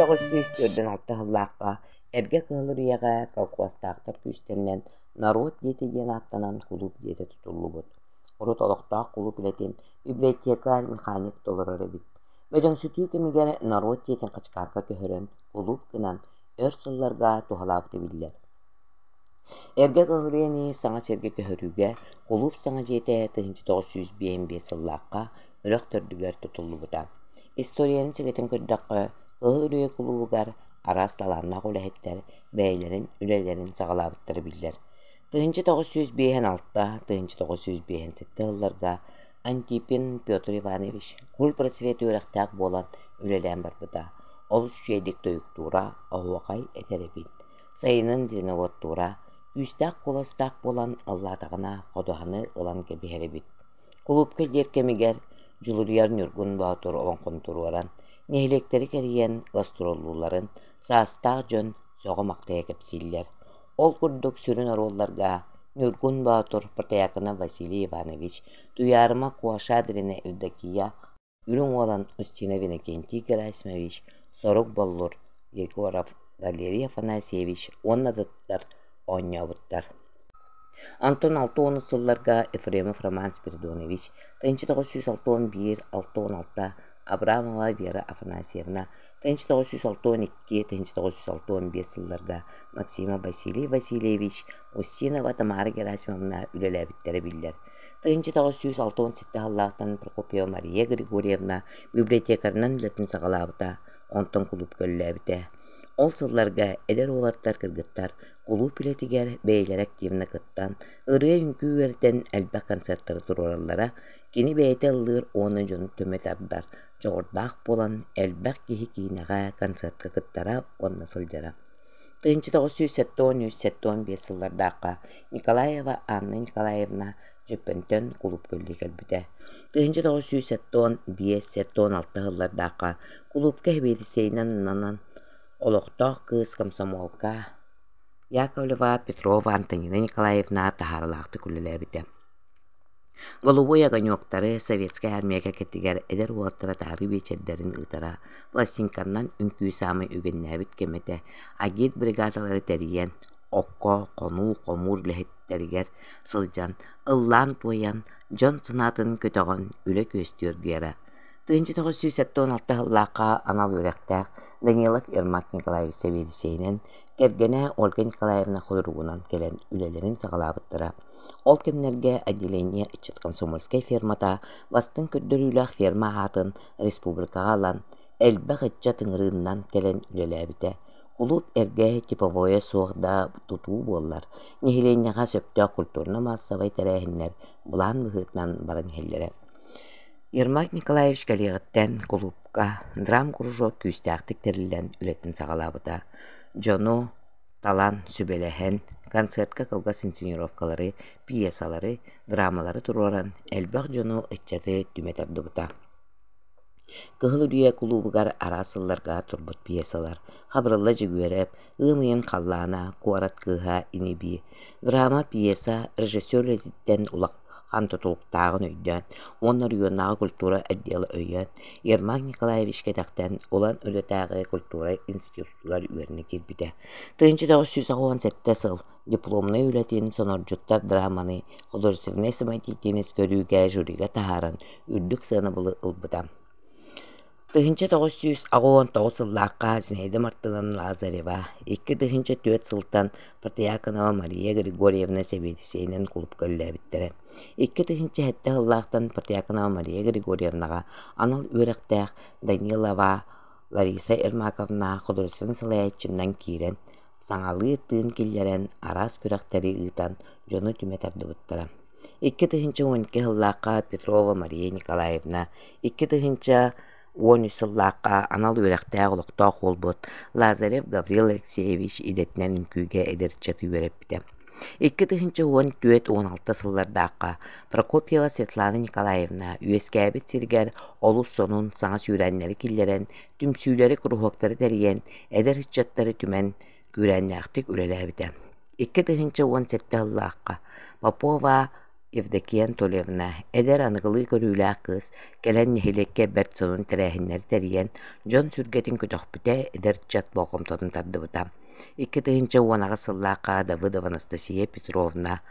484 алтыһыллаахха Эргэ Кыһыл Үрүйэҕэ колхуостаахтар күүстэринэн «Норуот диэти» диэн ааттанан кулууп диэтэ тутуллубут. Урут олохтоох кулууп үлэтин библиотекарь, механик толорор эбит. Өдөҥсүтүү кэмигэр норуот дьиэтин хачыкаакка көһөрөн, кулууп гынан, өр сылларга туһалаабыта биллэр. Эргэ көһүрүөнү саҥа сиргэ көһөрүүгэ кулууп саҥа дьиэтэ тыһыынча тоҕус сүүс биэс сыллаахха үрэх төрдүгэр тутуллубута. Историянан сэгэтэн көрдөххө, Көһүрүө кулуубугар араас талааннаах үлэһиттэр бэйэлэрин үлэлэрин саҕалаабыттара биллэр. Тыһыынча тоҕус сүүс биэһэн алта, тыһыынча тоҕус сүүс биэһэн сэттэ сылларга Антипин Петр Иванович культпросвет үөрэхтээх буолан үлэлээн барбыта, олус үчэйдик тойуктуура, оһуохай этэр эбит. Сайынын звеноводтуура, үүстээх-куоластаах буолан аллаатаҕына ходуһаны ылан кэбиһэр эбит. Кулуупка дьиэр кэмигэр дьулуруйар Ньургун Боотур олоҥхону туруоран, нэһилиэктэри кэрийэн гастроллуулларын саастаах дьон сөҕө-махтайа кэпсииллэр. Ол курдук сүрүн оруолларга Ньургун Боотур, Патыйакына Василий Иванович, Туйаарыма Куашадрина Евдокия, Үрүҥ Уолан Устина Винокентий Герасимович, Сорук Боллур, Егоров Валерий Афанасьевич уонна дьахтар оонньообуттар. Онтон алта уон сылларга Ефремов Роман Спиридонович, 1906-1906 Абрамова Вера Афанасьевна, тыһыынча тоҕус жүз алтан икки тыһыынча тоҕус жүз алтан биэс сылларга Максима Василий Васильевич Устинова Тамара Герасимовна үлэлээбиттэрэ биллэр. Тыһыынча тоҕус сүүс алтан сэттэ саллааттан Прокопьева Мария Григорьевна библиотекарынан үлэтин саҕалаабыта, онтон кулууп үлэлээбитэ. Ол сылларга эдэр уолаттар кыргыттар кулууп үлэтигэр бэйэлэрэ активно кыттан, ырыа-үҥкүү үөрэтэн элбэх концертары туруораллара, кини бэйэтэ ыллыыр уонна дьону төмө тардар, дьоҕурдаах буолан, элбэх киһи киинэҕэ, концертка кыттара уонна сылдьара. тыһыынча тоҕус сүүс сэттэ уон үс сэттэ уон биэс сыллардаахха Николаева Анна Николаевна Дьөппөнтөн кулуупка үлэлии кэлбитэ. тыһыынча тоҕус сүүс сэттэ уон биэс сэттэ уон алта сыллардаахха кулуупка эбиэлиссэйинэн ананан олохтоох кыыс комсомолка Яковлева Петрова Антонина Николаевна таһаарылаахтык үлэлээбитэ Голубой огоньуоктары Советскай Армия кэккэтигэр эдэр уолаттара таһырыы биэчэрдэрин ыытара, пластинканан үҥкүү саамай үгэннээбит кэмэтэ Агит бригадалары тэрийэн, окко, хонуу, хомуур үлэһиттэригэр сылдьан, ыллаан-туойан, дьон санаатын көтөҕөн үлэ күөстүөргүйэрэ. 1996 сыллаахха анал үөрэхтээх Данилов Ермак Николаевич Савельичейинэн, кэргэнэ Ольга Николаевна Ходоругунан кэлэн үлэлэрин саҕалаабыттара. Ол кэмнэргэ отделение ыччат комсомольскай фермата бастыҥ көрдөрүүлээх ферма аатын республикаҕа ылан, элбэх ыччат ыҥырыыннан кэлэн үлэлээбитэ. Кулууп эргэ, типовое суох да тутуу буоллар, нэһилиэнньэҕэ сөптөөх культурно-маассабай тэрээһиннэр былаан быһыытынан баран иһэллэрэ. Ермак Николаевич кэлиэҕиттэн кулуупка драм-кружок күүстээхтик тэриллэн үлэтин саҕалаабыта. Дьону талан, сүбэлэһэн, концертка кылгас инсценировкалары, пьесалары, драмалары туруоран, элбэх дьону, ыччаты түмэтэр турбута. Кыһыл Үрүйэ кулуубугар араас сылларга турбут пьесалар Хабырылла Дьөгүөрэп, Ыым ыйын халлаана, Куорат кыыһа, Иниби, драма, пьеса режиссер үлэтиттэн улахан тутулуктааҕын өйдөөн уонна оройуоннааҕы культура отдела өйөөн Ермак Николаевич кэтэхтэн Улан Үлэтээҕи культура институтун уһуйааччылар үөрэнэ киирбитэ. Тыһыынча тоҕус сүүс уон сэттэ сыл дипломнай үлэтин сонордьуттар драманы художественнай самодеятельность көрүүгэ жюрига таһааран үрдүк сыанабылы ылбыта. Тыһыынча тоҕус сүүс аҕыон тоҕус сыллаахха Зинаида Мартыновна Лазарева икки тыһыынча түөрт сылтан Протиаконова Мария Григорьевна сэбиэдиссэйинэн кулупка үлэлээбиттэрэ. Икки тыһыынча сэттэ сыллаахтан Протиаконова Мария Григорьевнаҕа анал үөрэхтээх Данилова Лариса Ермаковна художественнай салайааччынан киирэн, саҥалыы тыын киллэрэн, араас күрэхтэри ыытан дьону түмэ тардыбыттара. Икки тыһыынча уон икки сыллаахха Петрова Мария Николаевна, икки тыһыынча уон үс сыллаахха анал үөрэхтээх олохтоох уолбут Лазарев Гаврил Алексеевич идэтинэн үҥкүүгэ эдэрчэт үөрэппитэ. Икки тыһыынча уон түөрт уон алта сыллардаахха Прокопьева Светлана Николаевна үөскээбит сиригэр олус сонун саҥа сүүрээннэри киллэрэн, түмсүүлэри, куруһуоктары тэрийэн, эдэр ыччаттары түмэн, күүрээннээхтик үлэлээбитэ. Икки тыһыынча уон сэттэ сыллаахха Попова Евдокия Анатольевна, эдэр аныгылыы көрүүлээх кыыс кэлэн нэһилиэккэ бэрт сонун тэрээһиннэри тэрийэн, дьон сүргэтин көтөхпүтэ, эдэр ыччат болҕомтотун тардыбыта. Икки тыһыынча уон аҕыс сыллаахха Давыдова Анастасия Петровна,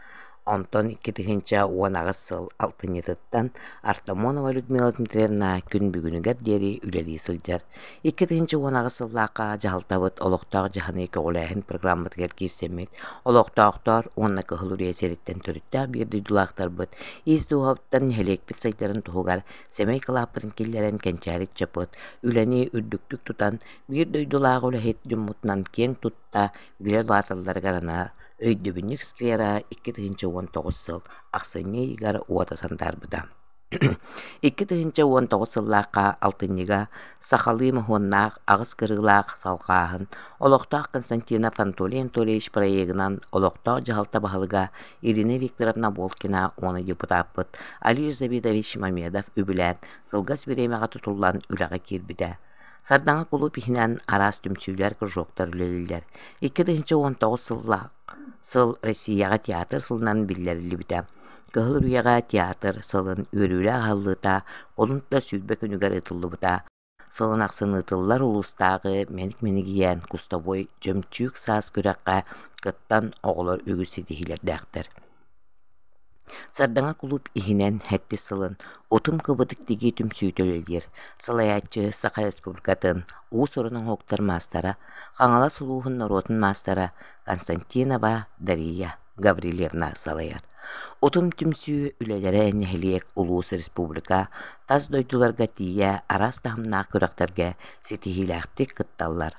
онтон икки тыһыынча уон аҕыс сыл алтынньытыттан Артамонова Людмила Дмитриевна күн бүгүнүгэр диэри үлэлии сылдьар. Икки тыһыынча уон аҕыс сыллаахха дьаһалтабыт олохтоох дьаһаныы көҕүлээһин программатыгар киирсэммит, олохтоохтоор уонна кыһыл урия сириттэн төрүттээх биир дойдулаахтарбыт ис дууһабыттан нэһилиэкпит сайдарын туһугар сэмэй кылааппытын киллэрэн кэнчээри ыччаппыт үлэни үрдүктүк тутан, биир дойдулаах үлэһит дьоммутунан киэҥ тутта билэ улааталларыгар анаа өйдөбүнньүк сквера икки тыһыынча уон тоҕус сыл ахсынньы ыйыгар уота сандаарбыта. Икки тыһыынча уон тоҕус сыллаахха алтынньыга сахалыы моһуоннаах аҕыс кырыылаах салҕааһын олохтоох Константинов Анатолий Анатольевич проегынан олохтоох дьаһалта баһылыга Ирина Викторовна Волкина уонна депутаппыт Алир Завидович Мамедов үбүлээн кылгас бириэмэҕэ тутуллан үлэҕэ киирбитэ. Сардаҥа кулууп иһинэн араас түмсүүлэр, кружоктар үлэлииллэр. Икки тыһыынча уон тоҕус сыллаах сыл Россияҕа театр сылынан биллэриллибитэ. Кыһыл Үрүйэҕэ театр сылын үөрүүлээх аһыллыыта олунта сүүрбэ күнүгэр ыытыллыбыта. Сылын ахсын ыытыллар улуустааҕы мэник-минигийээн кустовой чөмчүүк саас күрэххэ кыттан оҕолор үгүс ситиһиилэрдээхтэр. Сардаҥа кулууп иһинэн хэттис сылын Утум кыбытык тигии түмсүүтэ үлэлиир. Салайааччы Саха Республикатын уус-уран оҥоһуктар маастара, Хаҥалас улууһун норуотун маастара Константинова Дария. Гаврильевна салайар Утум түмсүү үлэлэрэ нэһилиэк, улуус, республика, тас дойдуларга тиийэ араас таһымнаах күрэхтэргэ ситиһиилээхтик кытталлар.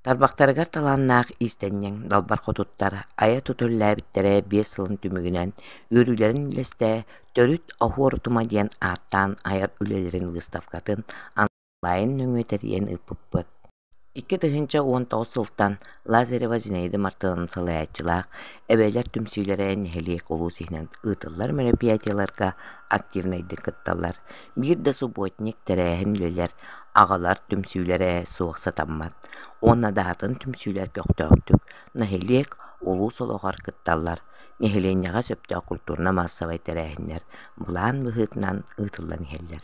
Тарбахтарыгар талааннаах иистэнньэҥ далбар хотуттар айа тутуллээбиттэрэ биэс сылын түмүгүнэн үөрүүлэрин үлэстэ Төрүт оһуорутума диэн ааттаан айар үлэлэрин выставкатын Лайын нөҥүө тэрийэн ыыппыппыт. Икки тыһыынча уон тоҕус сылтан Лазарева Зинаида Мартыновна салайааччылаах «Эбээлэр түмсүүлэрэ» нэһилиэк улуус иһинэн ыытыллар мероприятиеларга активнайдык кытталлар. Биир да субботник тэрээһин үлэлэр, аҕалар түмсүүлэрэ суох сатаммат. Уонна даһатын түмсүүлэр көхтөөхтүк нэһилиэк, улуус олоҕор кытталлар. Нэһилиэнньэҕэ сөптөөх культурнай-маассабай тэрээһиннэр былаан быһыытынан ыытыллан иһэллэр